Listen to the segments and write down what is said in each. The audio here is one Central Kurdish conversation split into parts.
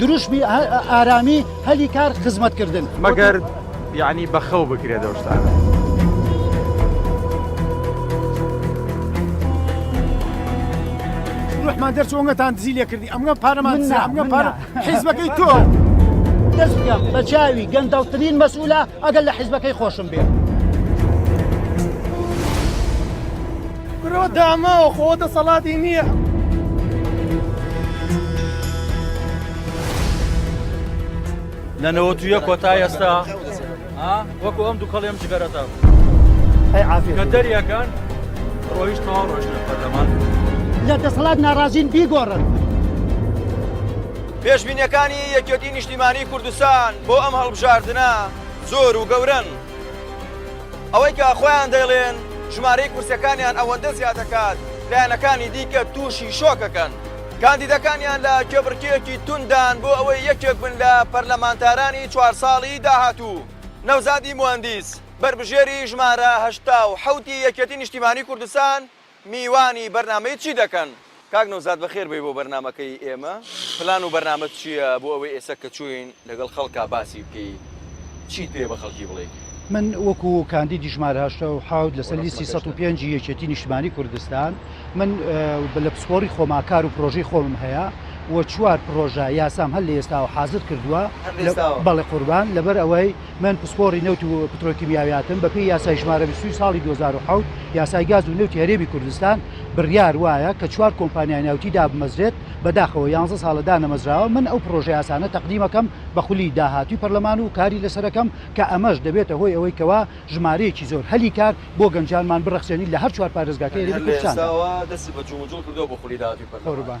دروشمی ئارامی هەلی کار خزمەتکردن مەگەر یعنی بەخەو بکرێت ئەو شتانە. ڕحمان دەرچۆنگەتان دزی لێ کردی ئەمگە پارەمان ئەمگە پار حیزبەکەی تۆ دەست بکەم بە چاوی گەندەڵترین مەسئولە ئەگەر لە حیزبەکەی خۆشم بێت. برۆ داماوە خۆ دەسەڵاتی نییە. لە نەوەتویە کۆتا ئێستا وەکو ئەم دووکەڵێم جگەرەتا کە دەریەکان ڕۆیش تەواو ڕۆژنە پەرلەمان لە دەسەڵات ناڕازین بیگۆڕن. پێشبینیەکانی یەکێتی نیشتیمانی کوردستان بۆ ئەم هەڵبژاردنە زۆر و گەورن. ئەوەی کە خۆیان دەیڵێن ژمارەی کورسیەکانیان ئەوەندە زیادەکات لایەنەکانی دیکە تووشی شۆکەکەن. کاندیدەکانیان لە کێبڕکێیەکی تونددان بۆ ئەوەی یەکێک بن لە پەرلەمانتارانی چوار ساڵی داهاتوو. نەوزادی موهەندیس، بەربژێری ژمارە هەشتا و حەوتی یەکێتی نیشتیمانی کوردستان، میوانی بەرنامەی چی دەکەن؟ کاک نەوزاد بەخێر بێی بۆ بەرنامەکەی ئێمە پلان و بەرنامەت چیە بۆ ئەوەی ئێسە کە چوین لەگەڵ خەڵکا باسی بکەی چیت پێیە بە خەڵکی بڵێی. من وەکو کاندیدی ژمارە هەشتا و حەوت لەسەر لیستی سەد و پێنج ی یەکێتی نیشتمانی کوردستان من لە پسپۆری خۆما کار و پرۆژەی خۆمم هەیە و چوار پرۆژە یاسام هەر لە ئێستاوە حازر کردوە بەڵێ قوربان لەبەر ئەوەی من پسپۆڕی نەوت و پترۆکیمیاویاتم، بەپێی یاسای ژمارە بیست و دوو ساڵی دوو هەزار و حەوت، یاسای گاز و نەوتی هەرێمی کوردستان، بڕیار وایە کە چوار کۆمپانیای نەوتی دابمەزرێت، بەداخەوە یانزە ساڵە دانەمەزراوە، من ئەو پڕۆژە یاسانە تەقدیم ئەکەم بە خولی داهاتووی پەرلەمان و کاری لەسەر ئەکەم کە ئەمەش دەبێتە هۆی ئەوەی کەوا ژمارەیەکی زۆر هەلی کار بۆ گەنجانمان بڕەخسێنین لە هەر چوار پارێزگاکەی هەرێمی کوردستاندا. قوربان.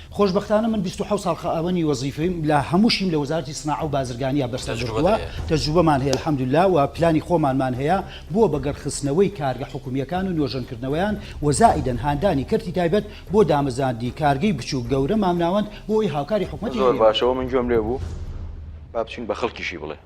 خۆشبەختانە من بیست و حەوت ساڵ خائاوەنی وەزیفەیم لە هەمووشیم لە وەزارەتی سناعە و بازرگانیا بەسەر بردووە، تەجروبەمان هەیە الحمدللە و پلانی خۆمانمان هەیە بۆ بەگەڕ خستنەوەی کارگە حکومییەکان و نۆژەن کردنەوەیان و زائیدەن هاندانی کەرتی تایبەت بۆ دامەزاندنی کارگەی بچووک گەورە مامناوەند بۆ ئەوەی هاوکاری حکومەتی هەرێم بن. زۆر باشە وە من گوێم لێ بوو با بچین بە خەڵکیشی بڵێ.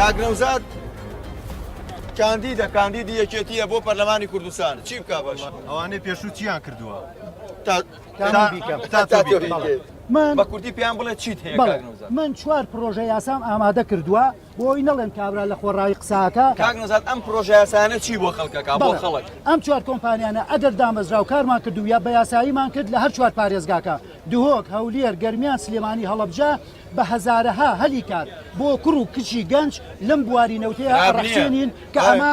کاک نەوزاد کاندیدە کاندیدی یەکێتیە بۆ پەرلەمانی کوردستان چی بک باش ئەوانەی پێشوو چیان کردووە من بە کوردی پێیان بڵێ چیت هەیە من چوار پرۆژە یاسام ئامادە کردووە بۆی نەڵێن کابرا لە خۆڕایی قسە ئەکا. کاک نەزان ئەم پرۆژەیاسایانە چی بۆ خەڵک ئەکا بۆ خەڵک؟ ئەم چوار کۆمپانیانە ئەگەر دامەزرا و کارمان کرد و یا بە یاساییمان کرد لە هەر چوار پارێزگاکە، دهۆک، هەولێر، گەرمیان، سلێمانی، هەڵەبجە، بە هەزارەها هەلی کار بۆ کوڕ و کچی گەنج لەم بواری نەوتەیا ئەڕەخسێنین کە ئەمە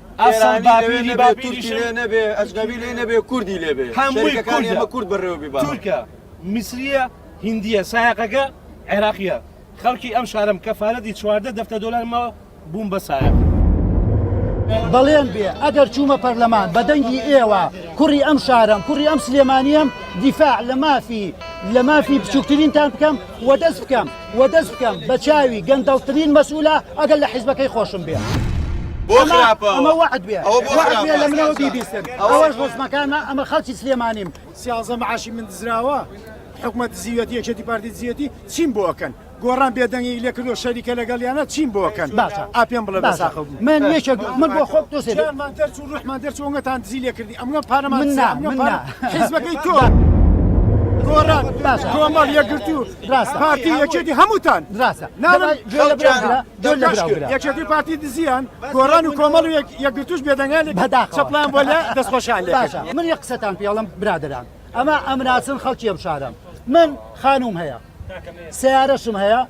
ئەسڵ بابیری با تورکی لێ نەبێ ئەجنەبی لێ نەبێ کوردی لێ بێ هەمووی کان ئێمە کورد بەڕێوە بیبا تورکە میسریە هندیە سایەقەکە عێراقیە خەڵکی ئەم شارم کەفالەتی چواردە دەفتە دۆلارمەوە بووم بە سایە. بەڵێن بێ ئەگەر چوومە پەرلەمان بە دەنگی ئێوە کوڕی ئەم شارم کوڕی ئەم سلێمانیم دیفاع لە مافی لە مافی بچووکترینتان بکەم وە دەست بکەم و دەست بکەم بە چاوی گەندەڵترین مەسئولە ئەگەر لە حیزبەکەی خۆشم بێ. بۆ خراپە ئەمە وەعد بێ ئەوە بۆ وەعد بێ لە منەوە بیبیستن ئەوەش ڕۆزمەکانە ئەمە خەڵکی سلێمانیم سیازدە معاشی من دزراوە حکومە دزیوەتی یەکێتی پارتی دزیەتی چیم بۆ ئەکەن گۆڕان بێدەنگی لێ کردو شەریکە لەگەڵیانە چیم بۆ ئەکەن باشە ئا پێم بڵێ بە ساخە بوو من یەکێک من بۆ خۆم تۆ سێ جانمان دەرچوو ڕوحمان دەرچوو ئەنگەتان دزی لێ کردی ئەمگە پارەمان من نا، دزی، ئەمگە من پارە- نا. حیزبەکەی تۆ گۆڕان باشە. کۆمەڵ یەکگرتوو ڕاستە پارتی یەکێتی هەمووتان ڕاستە ناڵێن گوێ لە برا گرە گوێ لە برا گرە یەکێتی پارتی دزیان گۆڕان و کۆمەڵ و یەکگرتووش بێدەنگان لێ بەداخەوە چەپڵەیان بۆ لێ دەستخۆشیان لێ کرد باشە من یەک قسەتان پێ ئەڵێم برادەران ئەمە ئەمناسن خەڵکی ئەم شارەم من خانووم هەیە سیارەشم هەیە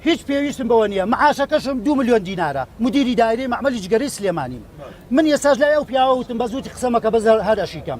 هیچ پێویستم بەوە نییە معاشەکەشم دو میلیۆن دینارە مدیری دایری معمەلی جگەری سلێمانیم من یەساش لای ئەو پیاوەوتم بە زووتی قسەمەکە بەزە هەرەشیکەم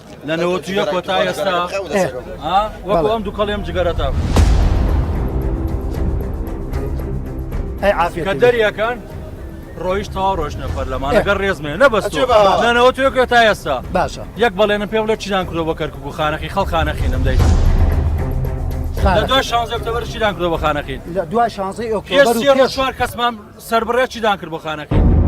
لە نەوەت و یەک کۆتا ئێستا وەکو ئەم دووکەڵێم جگەرەتە ئەی عافیە کە دەریەکان ڕۆیش تەوا ڕۆشنە پەرلەمان لەگەر ڕێزمێ نەبەست نانەوە توێ کرێت تا ئێستا باشە یەک بەڵێنە پێ بڵێ چیدان کرۆ بە کەرکک و خانەقی خەڵخانەقی نەمدەیت دوای شانزە ئۆکتۆبر چیدان کرۆ بە خانەقی دوای شانزەی ئۆکتۆبر کەسمان سەربڕێ چیدان کرد بۆ خانەکەی.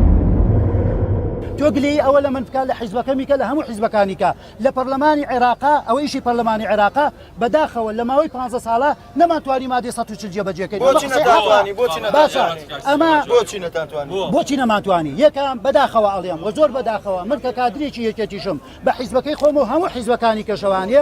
تۆ گلەیی ئەوە لەمن بکە لە حیزبەکەمی کە لە هەموو حیزبەکانی کە لە پەرلەمانی عێراقە ئەوە ئیشی پەرلەمانی عێراقە بەداخەوە لە ماوەی پانزە ساڵە نەمانتوانی مادەی سەد و چل جێبەجێ کەین بۆچی نەتانتوانی بۆچی نەتانتوانی ئەمە بۆچی نەتانتوانی بۆچی نەمانتوانی یەکەم بەداخەوە ئەڵێم وە زۆر بەداخەوە من کە کادرێکی یەکێتیشم بە حیزبەکەی خۆم و هەموو حیزبەکانی کەشەوانێ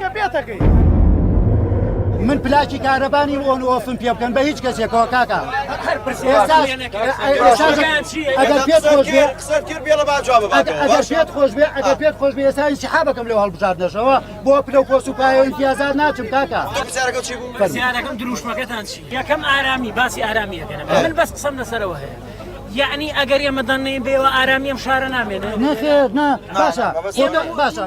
کە پێتەکەی من پلاکی کارەبا نیم ئۆن ئۆفم پێ بکەن بە هیچ کەسێکەوە کاکە ئەگەر پێت خۆش بێ ئەگەر پێت خۆش بێ ئەگەر پێت خۆش بێ ئێستا هیچ حا بەکەم لە هەڵبژاردنەشەوە بۆ پلە و پۆس و پایەوەی پیازار ناچم کاکە پرسیارەکەم دروشمەکەتان چی یەکەم ئارامی باسی ئارامیەکەن من بەس قسەم لەسەرەوە هەیە یعنی ئەگەر ئێمە دەنێن بێەوە ئارامی ئەم شارە نامێنێت نەخێت نا باشە باشە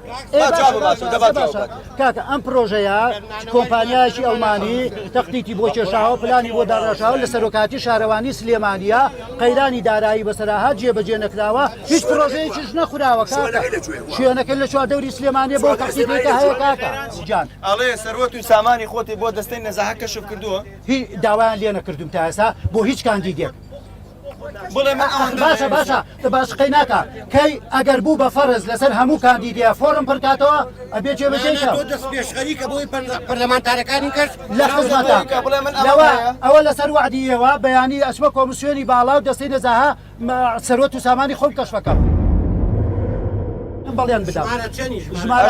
کاکە ئەم پرۆژەیە کۆمپانیایکی ئەڵمانی تەختیتی بۆ کێشاوە پلانی بۆ داڕاشاوە لە سەرۆکاتی شارەوانی سلێمانیا قەیرانی دارایی بەسەراها جێبەجێ نەکراوە هیچ پرۆژەیەکیش نەخراوە شوێنەکە لە چوار دەوری سلێمانێ بۆ تەختیتێکە هەیە کاکە جان ئەڵێ سەروەت و سامانی خۆتی بۆ دەستەی نەزاهە کەشف کردووە هی داوایان لێ نەکردوم تاسا بۆ هیچ کاندیدێک باشە باشە تە باشقەی ناکە کەی ئەگەر بوو بە فەرز لەسەر هەموو کاندیدە فۆرم پڕکاتەوە ئەبێ جێ بەجێشە دەست پێشخەریکە بۆی پەرلەمانتارەکانی کرد لە خزمەتە لەوە ئەوە لەسەر وعدیەوە بەیانی ئەسمە کۆمسیۆنی باڵا و دەستەی نەزاها سەرۆت و سامانی خۆم کەشفەکەم. بەڵێن بدە ژمارە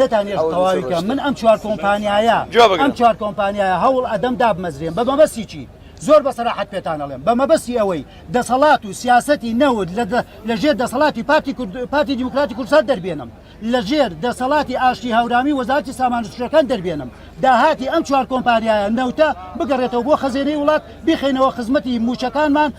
نەتانیەشت تەواوی کەم من ئەم چوار کۆمپانیایە ئەم چوار کۆمپانیایە هەوڵ ئەدەم دابمەزرێن بە مەبەستی چی زۆر بە سەراحەت پێتان ئەڵێم بە مەبەستی ئەوەی دەسەڵات و سیاسەتی نەوت لە ژێر دەسەڵاتی پارتی پارتی دیموکراتی کورسات دەربێنم لە ژێر دەسەڵاتی ئاشتی هاورامی وەزارتی سامانسوشەکان دەربێنم داهاتی ئەم چوار کۆمپانیایە نەوتە بگەڕێتەوە بۆ خەزێنەی وڵات بخینەوە خزمەتی موچەکانمان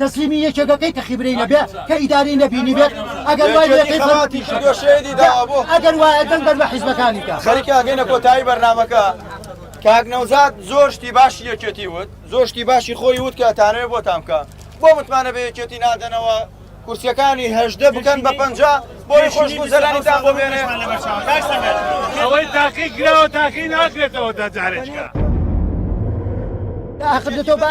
تەسلیمی یەکێکەکەی کە خیبرەی نەبێ کە ئیدارەی نەبینی بێت ئەگەر وای لێ کەی خەباتی شەکە شەیدی داوا بۆ ئەگەر وایە دەنگ بەر بە حیزبەکانی کە خەریکە ئەگەینە کۆتایی بەرنامەکە کاک نەوزاد زۆر شتی باشی یەکێتی وت زۆر شتی باشی خۆی وت کە تانەوێ بۆ تامکە بۆ متمانە بە یەکێتی نادەنەوە کورسەکانی هەژدە بکەن بە پەنج بۆی خۆش گوزەرانی تا بۆ بێنێ ئەوەی تاقی کراوە تاقی ناکرێتەوە دەجارێکە داخدەتەوە بە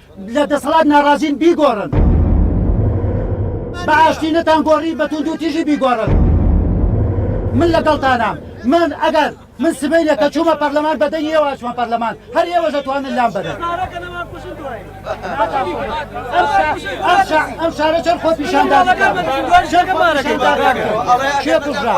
لە دەسەڵات ناڕازین بیگۆڕن. بە ئاشتی نەتان گۆڕی بە توندو تیژی بیگۆڕن. من لەگەڵتانام من ئەگەر من سبەینێ کە چوومە پەرلەمان بە دەنگی ئێوە ئەچمە پەرلەمان هەر ئێوەش ئەتوانن لام بەرن ئەم شارە چەند خۆ پیشاندان کێ کوژرا